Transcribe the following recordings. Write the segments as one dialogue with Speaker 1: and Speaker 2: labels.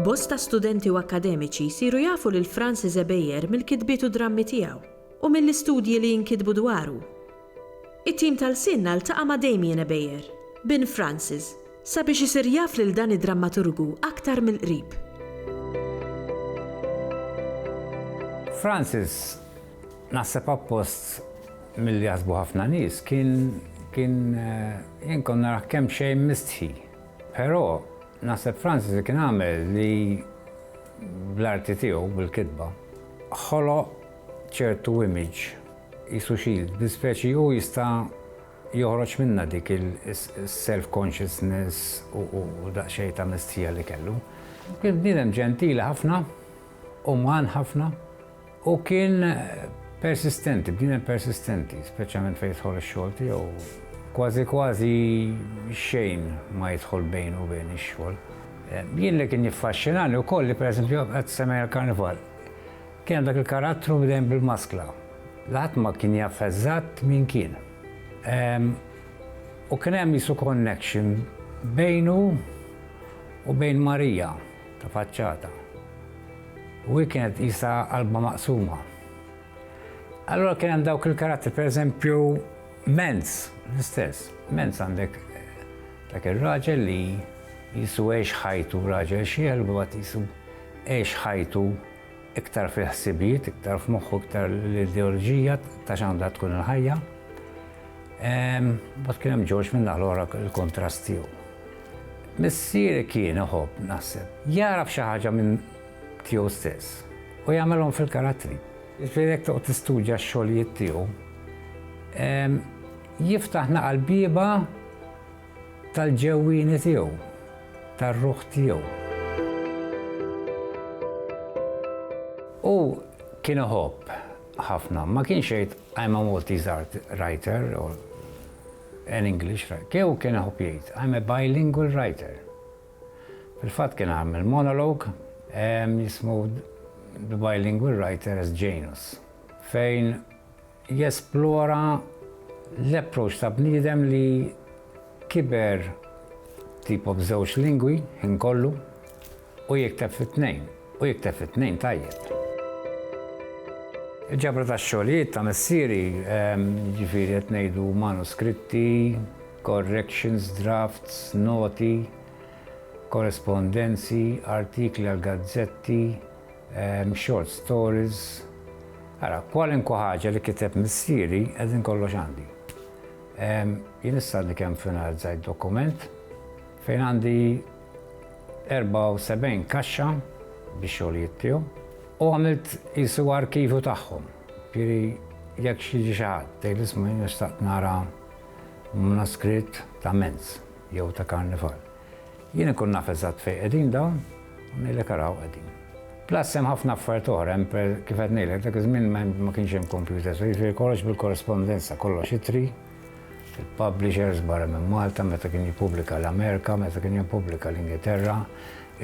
Speaker 1: Bosta studenti u akkademiċi jsiru jafu lil Francis Ebejer mill-kitbiet u drammi tiegħu u mill-istudji li jinkitbu dwaru. It-tim tal-lsien ltaqa' ma' Damien Ebejer, bin Francis, Sabiex isir jaf lil dan id-drammaturgu aktar mill-qrib. Francis, naħseb appost milli jaħsbu ħafna nies, kien, kien, jien kont narah kemm xejn mistħi. Però, naħseb Francis li kien għamel li bl-arti tiegħu, bil-kitba, ħoloq ċertu image, qisu shield, li speċi hu jista' Joħroġ minnha dik is-self consciousness u daqsxejn ta' mistħija li kellu. Kien bniedem ġentili ħafna, uman ħafna u kien persistenti, bniedem persistenti, speċjalment fejn jidħol ix-xogħol tiegħu. Kważi kważi xejn ma jidħol bejnu u bejn ix-xogħol. Jien li kien jiffaxxinani wkoll li pereżempju qed semmejna l-Karnival. Kien dak il-karattru dejjem bil-maskla, li ħadd ma kien jaf eżatt min kien. U kien hemm qisu connection bejnu u bejn Marija ta' faċċata. U hi kienet qisha qalbha maqsuma. Allura kien hemm dawk il-karattri, pereżempju, Menz, l-istess. Menz għandek dak ir-raġel li jisu għex ħajtu raġel xiel, u għat jisu għex ħajtu iktar fil-ħsibijiet, iktar f'moħħu, iktar l-ideoloġija ta' x'għandha tkun il-ħajja. Bat kien hemm George minn l-oħra il-kontrast tiegħu. Missieri kien iħobb naħseb jaraf xi ħaġa minn tiegħu stess u jagħmelhom fil-karattri. Ġifieri toqgħod tistudja x-xogħlijiet tiegħu jiftaħ naqal bieba Tal-ġewwieni tiegħu, tar-ruħ tiegħu. Hu kien iħobb ħafna, ma kienx jgħid I'm a Maltese art writer or an English writer, hu kien iħobb jgħid I'm a bilingual writer. Fil-fatt kien għamel monolog jismu The Bilingual Writer as Janus fejn Jesplora l-approach ta' bniedem li kiber tipo b'żewġ lingwi ħin kollu u jikteb fit-tnejn, u jikteb fit-tnejn tajjeb. Il-ġabra tax-xogħlijiet ta' missieri, jiġifieri qed ngħidu manuskritti, corrections, drafts, noti, korrespondenzi, artikli għall-gazzetti, short stories, ara, kwalinkwa ħaġa li kiteb missieri qegħdin kollox għandi. Jien issa għadni kemm finalizzajt dokument fejn għandi 74 kaxxa biex xogħlijiet tiegħu u għamilt jisu arkivu tagħhom. Piri jekk xi xi ħadd tgħid isma' jien nixtaq nara manuskritt ta' Menz jew ta' Karnifal. Jien inkun naf eżatt fejn qegħdin dawn u ngħidlek ara hawn qegħdin. Plus hemm ħafna affarijiet oħra, hemm per kif qed ngħidlek dak iż-żmien ma kienx hemm kompjuters, jiġifieri kollox bil-korrespondenza, kollox ittri, il-publishers barra minn Malta meta kien jippubblika l-Amerika, meta kien jippubblika l-Ingilterra,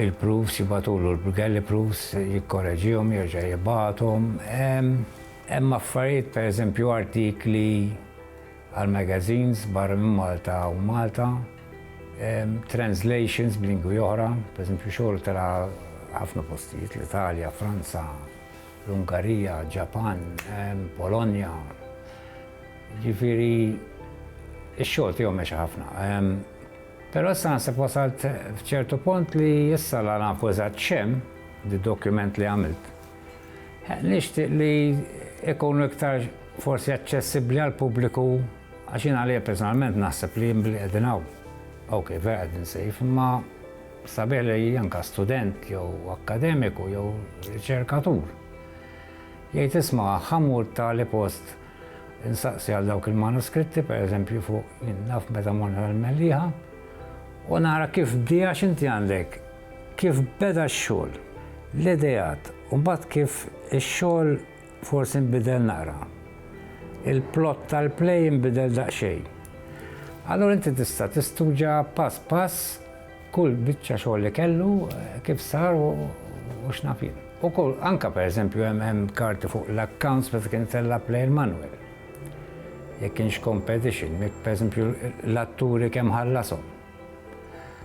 Speaker 1: il-proofs jibagħtulu l-galley proofs, jikkoreġihom, jerġa' jibgħathom. Hemm affarijiet pereżempju artikli għal magazines barra minn Malta u Malta, translations b'lingwi oħra, pereżempju xogħol tela' ħafna postijiet, l-Italja, Franza, l-Ungarija, Ġapan, Polonja. Ġifieri ix-xogħol tiegħu mexa ħafna. Però issa naħseb wasalt f'ċertu punt li issa la nafu eżatt x'hemm, d-dokument li għamilt. Nixtieq li jkunu iktar forsi aċċessibbli għall-pubbliku għax jien għalija personalment naħseb li jien billi qegħdin hawn, okej vera qegħdin safe, imma sabiħ li anke student jew akkademiku jew riċerkatur jgħid isma' ħa mur tali post insaqsi għal dawk il-manuskritti pereżempju fuq naf meta morna l-Mellieħa u nara kif dija x'inti għandek Kif beda x-xogħol, l-ideat u mbagħad kif ix-xogħol forsi nbidel naqra. Il-plot tal-play inbidel daqsxejn. Allura inti tista' tistudja pass pass kull biċċa xogħol li kellu, kif sar u x'naf jien. U kull, anke pereżempju hemm hemm karti fuq l-accounts meta kien itella' play il-manwel. Jekk kienx competition, jekk pereżempju l-atturi kemm ħallashom.